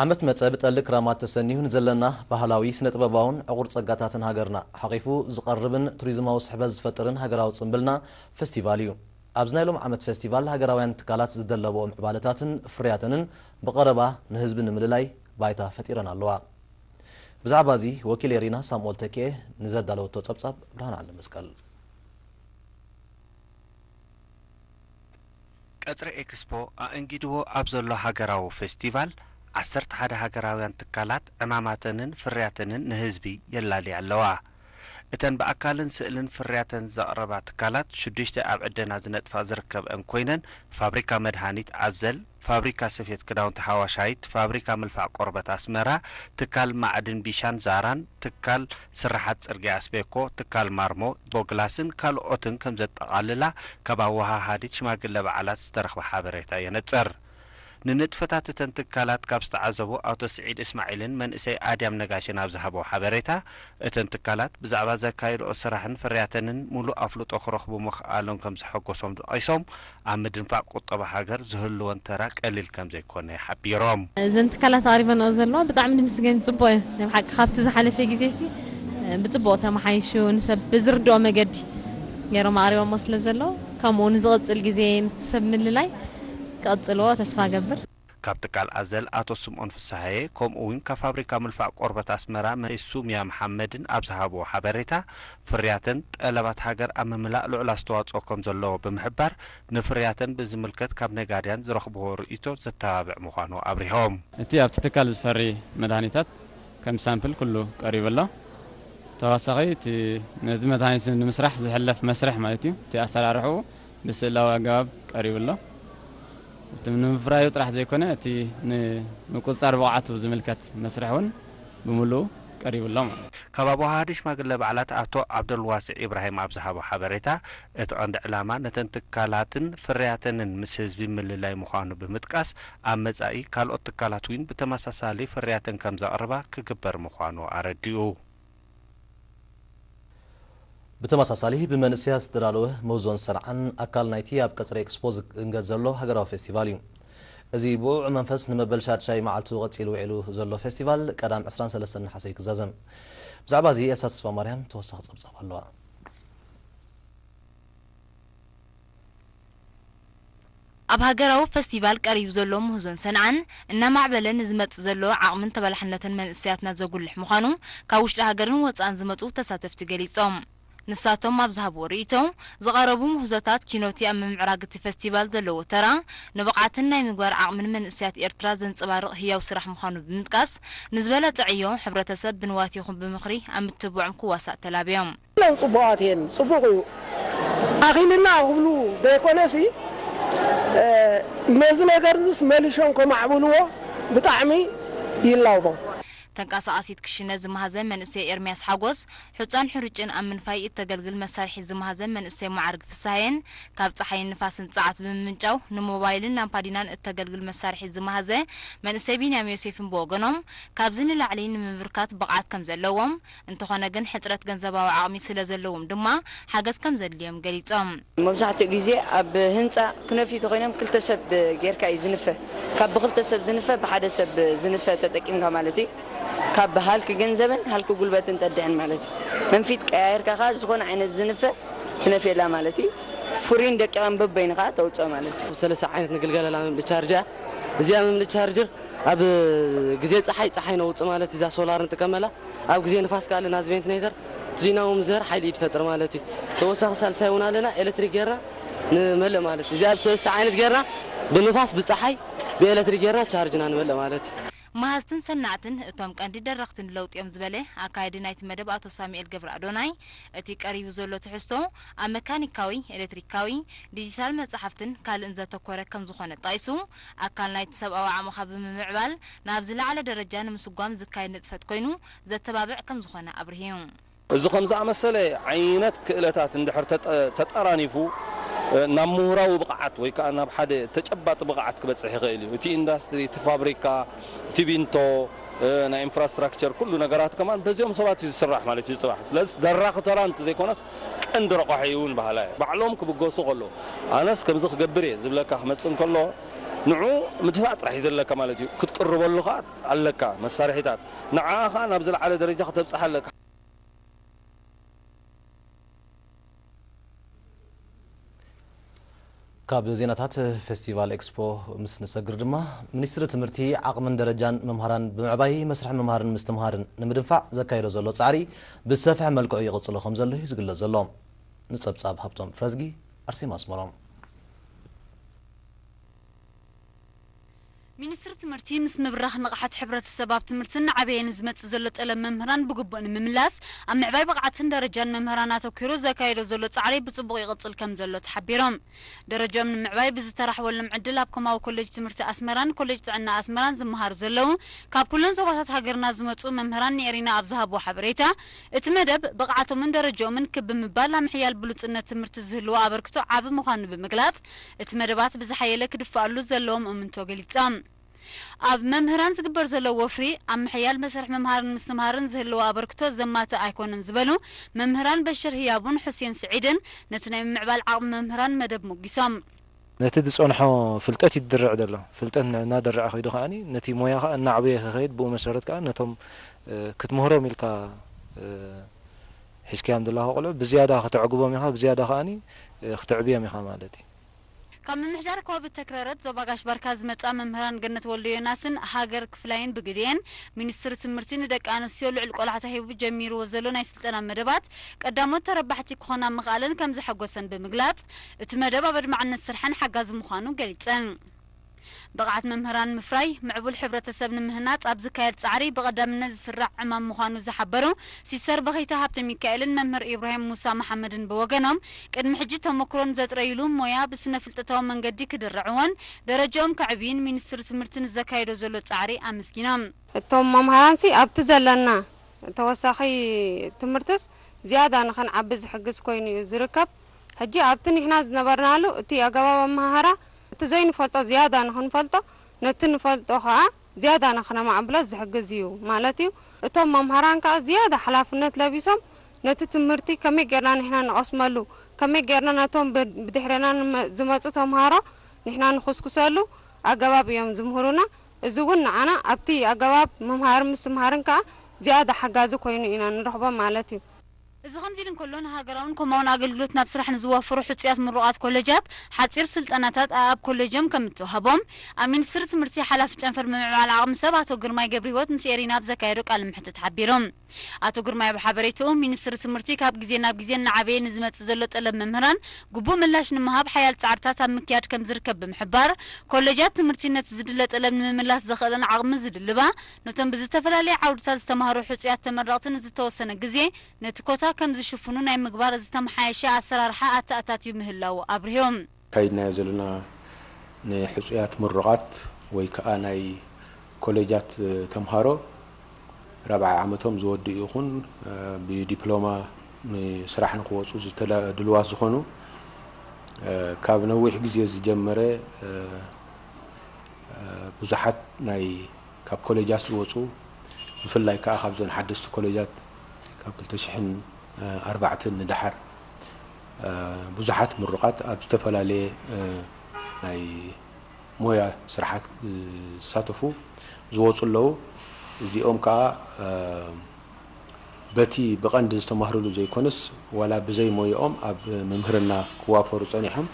ዓመት መጸ ብጠሊ ክራማት ተሰኒዩ ንዘለና ባህላዊ፣ ስነ-ጥበባውን ዕቑር ጸጋታትን ሃገርና ሓቚፉ ዝቐርብን ቱሪዝማዊ ስሕበት ዝፈጥርን ሃገራዊ ጽምብልና ፈስቲቫል እዩ። ኣብዚ ናይ ሎም ዓመት ፈስቲቫል ሃገራውያን ትካላት ዝደለበኦ ምዕባለታትን ፍርያተንን ብቐረባ ንህዝቢ ንምልላይ ባይታ ፈጢረን ኣለዋ። ብዛዕባ እዚ ወኪል ኤሪና ሳምኦል ተኪኤ ንዘዳለወቶ ጸብጻብ ብርሃን ዓንደመስቀል። ቀጽሪ ኤክስፖ ኣእንጊድዎ ኣብ ዘሎ ሃገራዊ ፌስቲቫል፣ ዓሰርተ ሓደ ሃገራውያን ትካላት ዕማማተንን ፍርያተንን ንህዝቢ የላልያ ኣለዋ። እተን ብኣካልን ስእልን ፍርያተን ዘቕረባ ትካላት ሽዱሽተ ኣብ ዕደና ዝነጥፋ ዝርከበኣን ኮይነን ፋብሪካ መድሃኒት ኣዘል፣ ፋብሪካ ስፌት ክዳውንቲ ሓዋሻይት፣ ፋብሪካ ምልፋዕ ቆርበት ኣስመራ፣ ትካል ማዕድን ቢሻን ዛራን፣ ትካል ስርሓት ጽርግያ ኣስቤኮ፣ ትካል ማርሞ፣ ቦግላስን ካልኦትን ከምዘጠቓልላ ካብ ኣወሃሃዲት ሽማግለ በዓላት ዝተረኽበ ሓበሬታ የነጽር። ንንጥፈታት እተን ትካላት ካብ ዝተዓዘቡ ኣቶ ስዒድ እስማዒልን መንእሰይ ኣድያም ነጋሽን ኣብ ዝሃብዎ ሓበሬታ፣ እተን ትካላት ብዛዕባ ዘካይድኦ ስራሕን ፍርያተንን ምሉእ ኣፍልጦ ክረኽቡ ምኽኣሎም ከምዘሐጎሶም ጠቒሶም፣ ኣብ ምድንፋዕ ቁጠባ ሃገር ዝህልወን ተራ ቀሊል ከምዘይኮነ ሓቢሮም። እዘን ትካላት ኣቕሪበንኦ ዘለዋ ብጣዕሚ ንምስገን ፅቡቕ እዩ ናይ ብሓቂ ካብቲ ዝሓለፈ ግዜሲ ብፅቡቕ ተመሓይሹ ንሰብ ብዝርድኦ መገዲ ገይሮም ኣቕሪቦሞ ስለዘለዉ ከምኡ ንዝቕፅል ግዜ ምትሰብ ምልላይ ክቕፅልዎ ተስፋ እገብር። ካብ ትካል ኣዘል ኣቶ ስምኦን ፍስሃየ ከምኡ እውን ካብ ፋብሪካ ምልፋዕ ቆርበት ኣስመራ መንእሰይ ሱምያ መሓመድን ኣብ ዝሃብዎ ሓበሬታ ፍርያተን ጠለባት ሃገር ኣብ ምምላእ ልዑል ኣስተዋፅኦ ከም ዘለዎ ብምሕባር ንፍርያተን ብዝምልከት ካብ ነጋድያን ዝረኽብዎ ርእይቶ ዘተባብዕ ምዃኑ ኣብሪሆም። እቲ ኣብቲ ትካል ዝፈሪ መድሃኒታት ከም ሳምፕል ኩሉ ቀሪቡ ኣሎ። ተወሳኺ እቲ ነዚ መድሃኒት እዚ ንምስራሕ ዝሕለፍ መስርሕ ማለት እዩ እቲ ኣሰራርሕኡ ብስእላዊ ኣገባብ ቀሪቡ ኣሎ። እቲ ንምፍራዩ ጥራሕ ዘይኮነ እቲ ንምቁፅፃር ብቕዓቱ ዝምልከት መስርሕ እውን ብምሉኡ ቀሪቡ ኣሎ ማለት እዩ። ካብ ኣወሃሃዲ ሽማግለ በዓላት ኣቶ ዓብደልዋስዕ ኢብራሂም ኣብ ዝሃቦ ሓበሬታ፣ እቲ ቀንዲ ዕላማ ነተን ትካላትን ፍርያተንን ምስ ህዝቢ ምልላይ ምዃኑ ብምጥቃስ፣ ኣብ መፃኢ ካልኦት ትካላት እውን ብተመሳሳሊ ፍርያተን ከምዘቕርባ ክግበር ምዃኑ ኣረዲኡ። ብተመሳሳሊ ብመንእሰያት ዝተዳለወ ምህዞን ሰንዓን ኣካል ናይቲ ኣብ ቀጽሪ ኤክስፖ ዝእንገድ ዘሎ ሃገራዊ ፌስቲቫል እዩ። እዚ ብኡዕ መንፈስ ንመበል ሻድሻይ መዓልቱ ቀጺሉ ውዒሉ ዘሎ ፌስቲቫል ቀዳም ዕስራን ሰለስተን ነሓሰ እዩ ክዛዘም። ብዛዕባ እዚ ኤልሳ ተስፋማርያም ተወሳኺ ጸብጻብ ኣለዋ። ኣብ ሃገራዊ ፈስቲቫል ቀሪቡ ዘሎ ምህዞን ሰንዓን፣ እናማዕበለ ንዝመጽእ ዘሎ ዓቕምን ተበላሕነትን መንእሰያትና ዘጉልሕ ምዃኑ ካብ ውሽጢ ሃገርን ወጻእን ዝመጹ ተሳተፍቲ ገሊጾም። ንሳቶም ኣብ ዝሃብዎ ርእይቶ፣ ዝቐረቡ ምህዞታት ኪኖ'ቲ ኣብ ምምዕራግ'ቲ ፈስቲቫል ዘለዎ ተራ፣ ንብቕዓትን ናይ ምግባር ዓቕምን መንእሰያት ኤርትራ ዘንጸባርቕ ህያው ስራሕ ምዃኑ ብምጥቃስ፣ ንዝበለጸ ዕዮ ሕብረተሰብ ብንዋት ይኹን ብምኽሪ ኣብ ምትብባዖም ክዋሳእ ተላብዮም። ኩለን ጽቡቓት እየን ጽቡቕ እዩ ኣኺልልና ክብሉ ደይኮነሲ ነዚ ነገርዝስ መሊሾም ከማዕብልዎ ብጣዕሚ ይላቦ። ተንቀሳቓሲት ክሽነ ዝማህዘ መንእሰይ ኤርምያስ ሓጎስ፣ ሑጻን ሕሩጭን ኣብ ምንፋይ እተገልግል መሳርሒት ዝማህዘ መንእሰይ መዓርግ ፍስሃየን፣ ካብ ጸሓይን ንፋስን ጸዓት ብምምንጫው ንሞባይልን ላምፓዲናን እተገልግል መሳርሒት ዝማህዘ መንእሰይ ቢንያም ዮሴፍን ብወገኖም፣ ካብዚ ንላዕሊ ንምብርካት ብቕዓት ከምዘለዎም እንተኾነ ግን ሕፅረት ገንዘባዊ ዓቕሚ ስለዘለዎም ድማ ሓገዝ ከምዘድልዮም ገሊፆም። መብዛሕትኡ ግዜ ኣብ ህንፃ ክነፍዩ ተኾይኖም ክልተ ሰብ ጌርካ እዩ ዝንፈ። ካብ ብኽልተ ሰብ ዝንፈ ብሓደ ሰብ ዝንፈ ተጠቂምካ ማለት እዩ። ካብ ሃልኪ ገንዘብን ሃልኪ ጉልበትን ጠድሕን ማለት እዩ። መንፊት ቀያይርካ ከኣ ዝኾነ ዓይነት ዝንፈ ትነፍየላ ማለት እዩ። ፍሩይን ደቂቕን በበይኑ ከኣ ተውፅኦ ማለት እዩ። ሰለስተ ዓይነት ንግልገለላ መምልኢ ቻርጅ እያ። እዚኣ መምልኢ ቻርጅር ኣብ ግዜ ፀሓይ ፀሓይ ነውፅእ ማለት እዩ። እዛ ሶላር ንጥቀመላ። ኣብ ግዜ ንፋስ ከኣ ኣለና ዝቬንትኔተር ትሊናዎ ምስ ዝሀር ሓይሊ ኢድ ፈጥር ማለት እዩ ተወሳኺ ሳልሳይ ውን ኣለና ኤለትሪክ ገርና ንመልእ ማለት እዩ እዚኣ ብሰለስተ ዓይነት ገርና ብንፋስ ብጻሓይ ብኤለትሪክ ገርና ቻርጅ እና ንመልእ ማለት እዩ። መሃዝትን ሰናዕትን እቶም ቀንዲ ደረኽቲ ንለውጢ'ዮም ዝበለ ኣካያዲ ናይቲ መደብ ኣቶ ሳሙኤል ገብረኣዶናይ፣ እቲ ቀሪቡ ዘሎ ትሕዝቶ ኣብ መካኒካዊ፣ ኤለትሪካዊ፣ ዲጂታል መጻሕፍትን ካልእን ዘተኮረ ከምዝኾነ ጠቒሱ፣ ኣካል ናይቲ ሰብኣዊ ዓቕምኻ ብምምዕባል ናብ ዝለዓለ ደረጃ ንምስጓም ዝካየድ ንጥፈት ኮይኑ ዘተባብዕ ከምዝኾነ ኣብርሂ። እዚ ከምዝኣመሰለ ዓይነት ክእለታት እንድሕር ተጠራኒፉ ናብ ምሁራዊ ብቕዓት ወይ ከኣ ናብ ሓደ ተጨባጢ ብቕዓት ክበጽሕ ይኽእል እዩ። እቲ ኢንዳስትሪ፣ እቲ ፋብሪካ፣ እቲ ቢንቶ፣ ናይ ኢንፍራስትራክቸር ኩሉ ነገራት ከማን በዚኦም ሰባት እዩ ዝስራሕ ማለት እዩ ጽባሕ። ስለዚ ደራኺ ተራ እንተዘይኮነስ ቀንዲ ረቋሒኡ እውን በሃላይ እዩ። ባዕሎም ክብገሱ ከለዉ ኣነስ ከምዚ ክገብር እየ ዝብለካ ክመጽእ እንከሎ ንዕኡ ምድፋእ ጥራሕ እዩ ዘለካ ማለት እዩ። ክትቅርበሉ ከኣ ኣለካ መሳርሒታት። ንዓኣ ከኣ ናብ ዝለዓለ ደረጃ ከተብጽሓ ኣለካ። ካብ ዜናታት ፌስቲቫል ኤክስፖ ምስ ንሰግር ድማ ሚኒስትሪ ትምህርቲ ዓቕምን ደረጃን መምሃራን ብምዕባይ መስርሕ ምምሃርን ምስትምሃርን ንምድንፋዕ ዘካየዶ ዘሎ ፃዕሪ ብዝሰፍሐ መልክዑ ይቕፅሎ ከም ዘሎ እዩ ዝግለፅ ዘሎ። ንፀብፃብ ሃብቶም ፍረዝጊ ኣርሴማ ኣስመሮም። ሚኒስትሪ ትምህርቲ ምስ ምብራኽ ንቕሓት ሕብረተሰብ ኣብ ትምህርትን እናዓበየ ንዝመፅእ ዘሎ ጠለብ መምህራን ብግቡእ ንምምላስ ኣብ ምዕባይ ብቕዓትን ደረጃን መምህራን ኣተኲሩ ዘካይዶ ዘሎ ፃዕሪ ብፅቡቕ ይቕፅል ከምዘሎ ተሓቢሮም። ደረጅኦም ንምዕባይ ብዝተረሕወሎም ዕድል ኣብ ኮማዊ ኮሌጅ ትምህርቲ ኣስመራን ኮሌጅ ጥዕና ኣስመራን ዝመሃሩ ዘለዉ ካብ ኩለን ዞባታት ሃገርና ዝመፅኡ መምህራን ንኤሪና ኣብ ዝሃብዎ ሓበሬታ እቲ መደብ ብቕዓቶምን ደረጅኦምን ክብ ብምባል ኣብ ምሕያል ብሉፅነት ትምህርቲ ዝህልዎ ኣበርክቶ ዓቢ ምዃኑ ብምግላፅ እቲ መደባት ብዝሓየለ ክድፋኣሉ ዘለዎም እምንቶ ገሊጻ። ኣብ መምህራን ዝግበር ዘሎ ወፍሪ፣ ኣብ ምሕያል መሰርሕ ምምሃርን ምስትምሃርን ዝህልዎ ኣበርክቶ ዘማትእ ኣይኮነን ዝበሉ መምህራን በሽር ህያቡን ሑሴን ስዒድን፣ ነቲ ናይ ምምዕባል ዓቕሚ መምህራን መደብ ሞጊሶም። ነቲ ዝጸንሖ ፍልጠት እዩ ድርዕ ዘሎ። ፍልጠት እናደረዐ ከይዱ ከኣ ነቲ ሞያ ከኣ እናዕበየ ክኸይድ ብኡ መሰረት ከኣ ነቶም ክትምህሮም ኢልካ ሒዝካዮም ዘለኻ ቆልዑ ብዝያዳ ከተዕግቦም ኢኻ ብዝያዳ ከኣ ክትዕብዬም ኢኻ ማለት እዩ። ካብ ምምሕዳር ኮብ ተክረረት ዞባ ጋሽ ባርካ ዝመጻ መምህራን ገነት ወልደዮናስን ሃገር ክፍላይን ብግዴን፣ ሚኒስትሪ ትምህርቲ ንደቂ ኣንስትዮ ልዑል ቆላሕታ ሂቡ ጀሚርዎ ዘሎ ናይ ስልጠና መደባት ቀዳሞት ተረባሕቲ ክኾና ምኽኣለን ከምዘሐጎሰን ብምግላጽ፣ እቲ መደብ ኣብ ኣድማዕነት ስርሐን ሓጋዚ ምዃኑ ገሊጸን። ብቕዓት መምህራን ንምፍራይ ምዕቡል ሕብረተሰብ ንምህናፅ ኣብ ዝካየድ ፃዕሪ ብቐዳምነት ዝስራዕ ዕማም ምዃኑ ዝሓበሩ ሲስተር በኺታ ሃብተሚካኤልን መምህር ኢብራሂም ሙሳ መሓመድን ብወገኖም ቅድሚ ሕጂ ተሞክሮን ዘጥረዩሉ ሞያ ብስነ ፍልጠታዊ መንገዲ ክድርዕዎን ደረጅኦም ከዕብዩን ሚኒስትሪ ትምህርቲ ንዘካይዶ ዘሎ ፃዕሪ ኣመስጊኖም። እቶም መምሃራንሲ ኣብቲ ዘለና ተወሳኺ ትምህርትስ ዝያዳ ንኽንዓቢ ዝሕግዝ ኮይኑ እዩ ዝርከብ። ሕጂ ኣብቲ ኒሕና ዝነበርናሉ እቲ ኣገባብ ኣመሃህራ እቲ ዘይንፈልጦ ዝያዳ ንኽንፈልጦ፣ ነቲ ንፈልጦ ከኣ ዝያዳ ንኽነማዕብሎ ዝሕግዝ እዩ ማለት እዩ። እቶም መምሃራን ከኣ ዝያዳ ሓላፍነት ለቢሶም ነቲ ትምህርቲ ከመይ ጌርና ንሕና ንቐስመሉ፣ ከመይ ጌርና ነቶም ብድሕሬና ዝመጹ ተምሃሮ ንሕና ንኹስኩሰሉ ኣገባብ እዮም ዝምህሩና። እዚ እውን ንዓና ኣብቲ ኣገባብ ምምሃርን ምስትምሃርን ከኣ ዝያዳ ሓጋዚ ኮይኑ ኢና ንረኽቦ ማለት እዩ። እዚ ከምዚ'ሉ እንከሎ፣ ንሃገራውን ኮማውን ኣገልግሎት ናብ ስራሕ ንዝዋፈሩ ሕጹያት ምሩቓት ኮለጃት፣ ሓጺር ስልጠናታት ኣኣብ ኮለጆም ከም እተዋህቦም፣ ኣብ ሚኒስትሪ ትምህርቲ ሓላፊ ጨንፈር ምምዕባል ዓቕሚ ሰብ ኣቶ ግርማይ ገብርሂወት ምስ ኤሪና ኣብ ዘካየዶ ቃለ መሕትት ሓቢሩ። ኣቶ ግርማይ ኣብ ሓበሬታኡ፣ ሚኒስትሪ ትምህርቲ ካብ ግዜ ናብ ግዜ እናዓበየ ንዝመጽእ ዘሎ ጠለብ መምህራን ግቡእ ምላሽ ንምሃብ ሓያል ጻዕርታት ኣብ ምክያድ ከም ዝርከብ ብምሕባር፣ ኮለጃት ትምህርቲ ነቲ ዝድለ ጠለብ ንምምላስ ዘኽእለን ዓቕሚ ዝድልባ ነቶም ብዝተፈላለየ ዓውድታት ዝተማህሩ ሕጹያት ተመረቕቲ ንዝተወሰነ ግዜ ነቲ ኮታ ከም ዝሽፍኑ ናይ ምግባር ዝተመሓየሸ ኣሰራርሓ ኣተኣታትዩ ምህላዉ ኣብሪሁ። ኣካይድናዮ ዘለና ንሕጹያት ምሩቓት ወይ ከኣ ናይ ኮሌጃት ተምሃሮ ራብዓይ ዓመቶም ዝወድኡ ይኹን ብዲፕሎማ ንስራሕ ንኽወጹ ድሉዋት ዝኾኑ ካብ ነዊሕ ግዜ ዝጀመረ ብዙሓት ናይ ካብ ኮሌጃት ዝወፁ ብፍላይ ከኣ ካብዘን ሓደስቲ ኮሌጃት ካብ ክልተ ሽሕን ኣርባዕተን ንደሓር ብዙሓት ምሩቓት ኣብ ዝተፈላለየ ናይ ሞያ ስራሓት ዝሳተፉ ዝወፁ ኣለዉ። እዚኦም ከኣ በቲ ብቐንዲ ዝተማህርሉ ዘይኮነስ ዋላ ብዘይ ሞየኦም ኣብ ምምህርና ክዋፈሩ ፀኒሖም።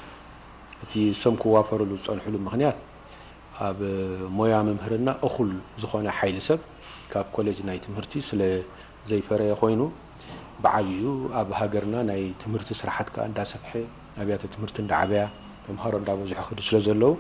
እቲ እሶም ክዋፈርሉ ዝፀንሕሉ ምኽንያት ኣብ ሞያ ምምህርና እኹል ዝኾነ ሓይሊ ሰብ ካብ ኮሌጅ ናይ ትምህርቲ ስለ ዘይፈረየ ኮይኑ ብዓቢኡ ኣብ ሃገርና ናይ ትምህርቲ ስራሓት ከኣ እንዳሰፍሐ ኣብያተ ትምህርቲ እንዳዓበያ ተምሃሮ እንዳበዝሑ ይኸዱ ስለ ዘለዉ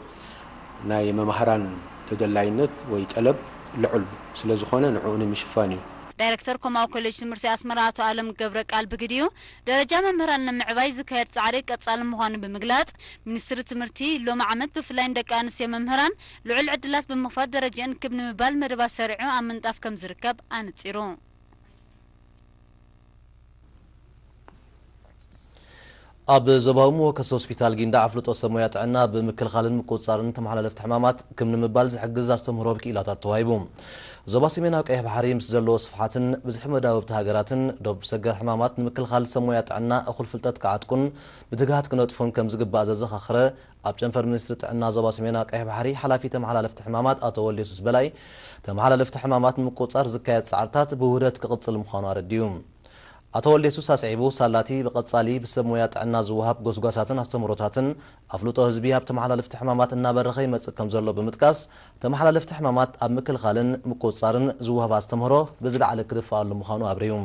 ናይ መማህራን ተደላይነት ወይ ጠለብ ልዑል ስለ ዝኾነ ንዕኡ ንምሽፋን እዩ። ዳይረክተር ኮማዊ ኮሌጅ ትምህርቲ ኣስመራ ኣቶ ኣለም ገብረቃል ብግዲኡ፣ ደረጃ መምህራን ንምዕባይ ዝካየድ ፃዕሪ ቀፃሊ ምዃኑ ብምግላፅ፣ ሚኒስትሪ ትምህርቲ ሎሚ ዓመት ብፍላይ ንደቂ ኣንስትዮ መምህራን ልዑል ዕድላት ብምኽፋት ደረጅኣን ክብ ንምባል መደባት ሰሪዑ ኣብ ምንጣፍ ከምዝርከብ ኣነፂሩ። ኣብ ዞባዊ መወከሲ ሆስፒታል ጊንዳዕ ኣፍልጦ ሰብ ሞያ ጥዕና ብምክልኻልን ምቁፅፃርን ተመሓላለፍቲ ሕማማት ክብ ንምባል ዝሕግዝ ኣስተምህሮ ኣብ ክኢላታት ተዋሂቡ። ዞባ ሰሜናዊ ቀይሕ ባሕሪ ምስ ዘለዎ ስፍሓትን ብዝሒ መዳውብቲ ሃገራትን ዶብ ሰገር ሕማማት ንምክልኻል ሰብ ሞያ ጥዕና እኹል ፍልጠት ክዓጥቁን ብትግሃት ክነጥፉን ከምዝግባእ ዘዘኻኸረ ኣብ ጨንፈር ሚኒስትሪ ጥዕና ዞባ ሰሜናዊ ቀይሕ ባሕሪ ሓላፊ ተመሓላለፍቲ ሕማማት ኣቶ ወልደየሱስ በላይ ተመሓላለፍቲ ሕማማት ንምቁፅፃር ዝካየድ ፃዕርታት ብውህደት ክቕፅል ምዃኑ ኣረዲኡ። ኣቶ ወልደየሱስ ኣስዒቡ ሳላ'ቲ ብቐፃሊ ብሰብ ሞያ ጥዕና ዝወሃብ ጎስጓሳትን ኣስተምህሮታትን ኣፍልጦ ህዝቢ ኣብ ተመሓላለፍቲ ሕማማት እናበረኸ ይመፅእ ከምዘሎ ብምጥቃስ፣ ተመሓላለፍቲ ሕማማት ኣብ ምክልኻልን ምቁፅፃርን ዝወሃብ ኣስተምህሮ ብዝለዓለ ክድፈኣሉ ምዃኑ ኣብሪሁ።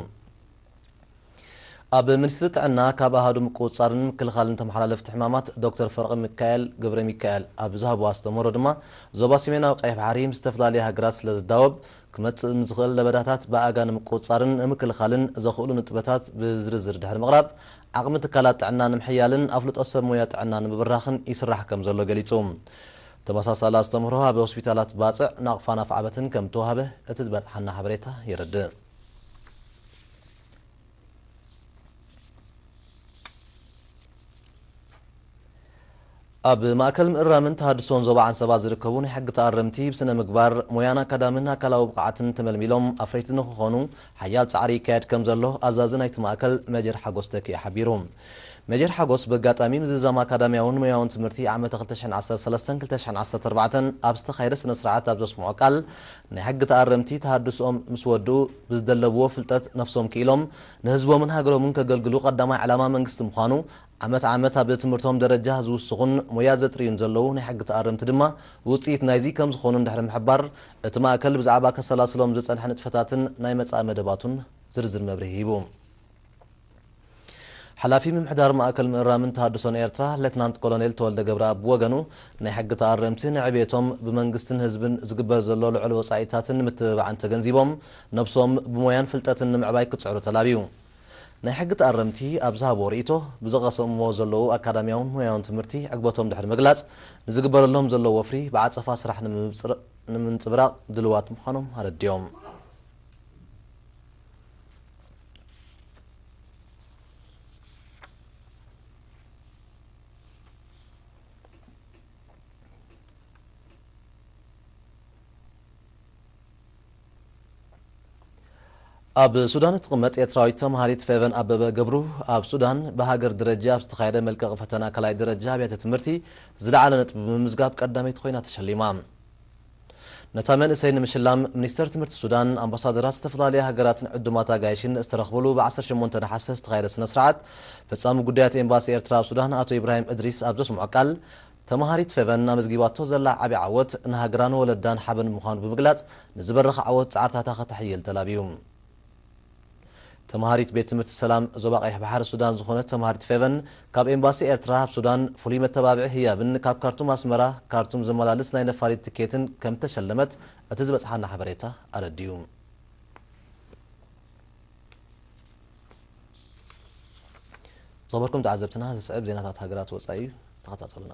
ኣብ ሚኒስትሪ ጥዕና ካብ ኣሃዱ ምቁፅፃርን ምክልኻልን ተመሓላለፍቲ ሕማማት ዶክተር ፍረቕሚካኤል ገብረሚካኤል ኣብ ዝሃብዎ ኣስተምህሮ ድማ፣ ዞባ ሰሜናዊ ቀይሕ ባሕሪ ምስ ዝተፈላለያ ሃገራት ስለዝዳወብ፣ ክመፅእ ንዝኽእል ለበዳታት ብኣጋ ንምቁፅፃርን ንምክልኻልን ዘኽእሉ ንጥበታት ብዝርዝር ድሕሪ ምቕራብ፣ ዓቕሚ ትካላት ጥዕና ንምሕያልን ኣፍልጦ ሰብ ሞያ ጥዕና ንምብራኽን ይስራሕ ከምዘሎ ገሊፁ። ተመሳሳሊ ኣስተምህሮ ኣብ ሆስፒታላት ባፅዕ፣ ናቕፋን ኣፍዓበትን ከምተውሃበ እቲ ዝበፅሓና ሓበሬታ የረድእ። ኣብ ማእከል ምእራምን ተሃድሶን ዞባ ዓንሰባ ዝርከቡ ናይ ሕጊ ተኣረምቲ ብስነ ምግባር፣ ሞያን ኣካዳምን ኣካላዊ ብቕዓትን ተመልሚሎም ኣፍረይቲ ንኽኾኑ ሓያል ጻዕሪ ይካየድ ከም ዘሎ ኣዛዚ ናይቲ ማእከል መጀር ሓጎስ ተኪኤ ሓቢሩ። መጀር ሓጎስ በጋጣሚ ምዝዛም ኣካዳምያውን ሞያውን ትምህርቲ ዓመተ ክልተ ሽሕን ዓሰርተ ሰለስተን ክልተ ሽሕን ዓሰርተ ኣርባዕተን ኣብ ዝተኻየደ ስነ ስርዓት ኣብ ዘስምዖ ቃል ናይ ሕጊ ተኣረምቲ ተሃድስኦም ምስ ወድኡ ብዝደለብዎ ፍልጠት ነፍሶም ክኢሎም ንህዝቦምን ሃገሮምን ከገልግሉ ቀዳማይ ዕላማ መንግስቲ ምዃኑ ዓመት ዓመት ኣብ ትምህርቶም ደረጃ ዝውስኹን ሞያ ዘጥርዩን ዘለዉ ናይ ሕጊ ተኣረምቲ ድማ ውጽኢት ናይዚ ከም ዝኾኑን ድሕሪ ምሕባር፣ እቲ ማእከል ብዛዕባ ከሰላስሎም ዝጸንሐ ንጥፈታትን ናይ መጻኢ መደባቱን ዝርዝር መብርሂ ሂቡ። ሓላፊ ምምሕዳር ማእከል ምእራምን ተሃድሶን ኤርትራ ሌትናንት ኮሎኔል ተወልደ ገብረኣብ ብወገኑ፣ ናይ ሕጊ ተኣረምቲ ንዕብየቶም ብመንግስትን ህዝብን ዝግበር ዘሎ ልዑል ወጻኢታትን ምትብባዕን ተገንዚቦም ነብሶም ብሞያን ፍልጠትን ንምዕባይ ክጽዕሩ ተላብዩ። ናይ ሕጊ ተኣረምቲ ኣብ ዝሃብዎ ርእይቶ፣ ብዝቐሰምዎ ዘለዉ ኣካዳሚያውን ሞያውን ትምህርቲ ዕግበቶም ድሕሪ ምግላጽ፣ ንዝግበረሎም ዘሎ ወፍሪ ብዓጸፋ ስራሕ ንምምጽብራቕ ድልዋት ምዃኖም ኣረዲኦም። ኣብ ሱዳን እትቕመጥ ኤርትራዊት ተምሃሪት ፌቨን ኣበበ ገብሩ፣ ኣብ ሱዳን ብሃገር ደረጃ ኣብ ዝተኻየደ መልቀቒ ፈተና ካልኣይ ደረጃ ኣብያተ ትምህርቲ ዝለዓለ ነጥቢ ብምምዝጋብ ቀዳመይቲ ኮይና ተሸሊማ። ነታ መንእሰይ ንምሽላም ሚኒስተር ትምህርቲ ሱዳን፣ ኣምባሳደራት ዝተፈላለያ ሃገራትን ዕዱማት ኣጋይሽን ዝተረኽብሉ ብ ዓሰርተ ሸሞንተ ነሓሰ ዝተኻየደ ስነ-ስርዓት፣ ፈጻሚ ጉዳያት ኤምባሲ ኤርትራ ኣብ ሱዳን ኣቶ ኢብራሂም እድሪስ ኣብ ዘስምዖ ቃል፣ ተመሃሪት ፌቨን ኣመዝጊባቶ ዘላ ዓቢ ዓወት፣ ንሃገራን ወለዳን ሓበን ምዃኑ ብምግላጽ፣ ንዝበረኸ ዓወት ጻዕርታታ ከተሐይል ተላብዩ። ተመሃሪት ቤት ትምህርቲ ሰላም ዞባ ቀይሕ ባሕሪ ሱዳን ዝኾነት ተመሃሪት ፌቨን፣ ካብ ኤምባሲ ኤርትራ ኣብ ሱዳን ፍሉይ መተባብዒ ህያብን ካብ ካርቱም ኣስመራ ካርቱም ዝመላልስ ናይ ነፋሪት ትኬትን ከምተሸለመት እቲ ዝበጽሓና ሓበሬታ ኣረዲኡ። ዝኸበርኩም ተዓዘብትና ዝስዕብ ዜናታት ሃገራት ወፃኢ እዩ፣ ተኸታተሉና።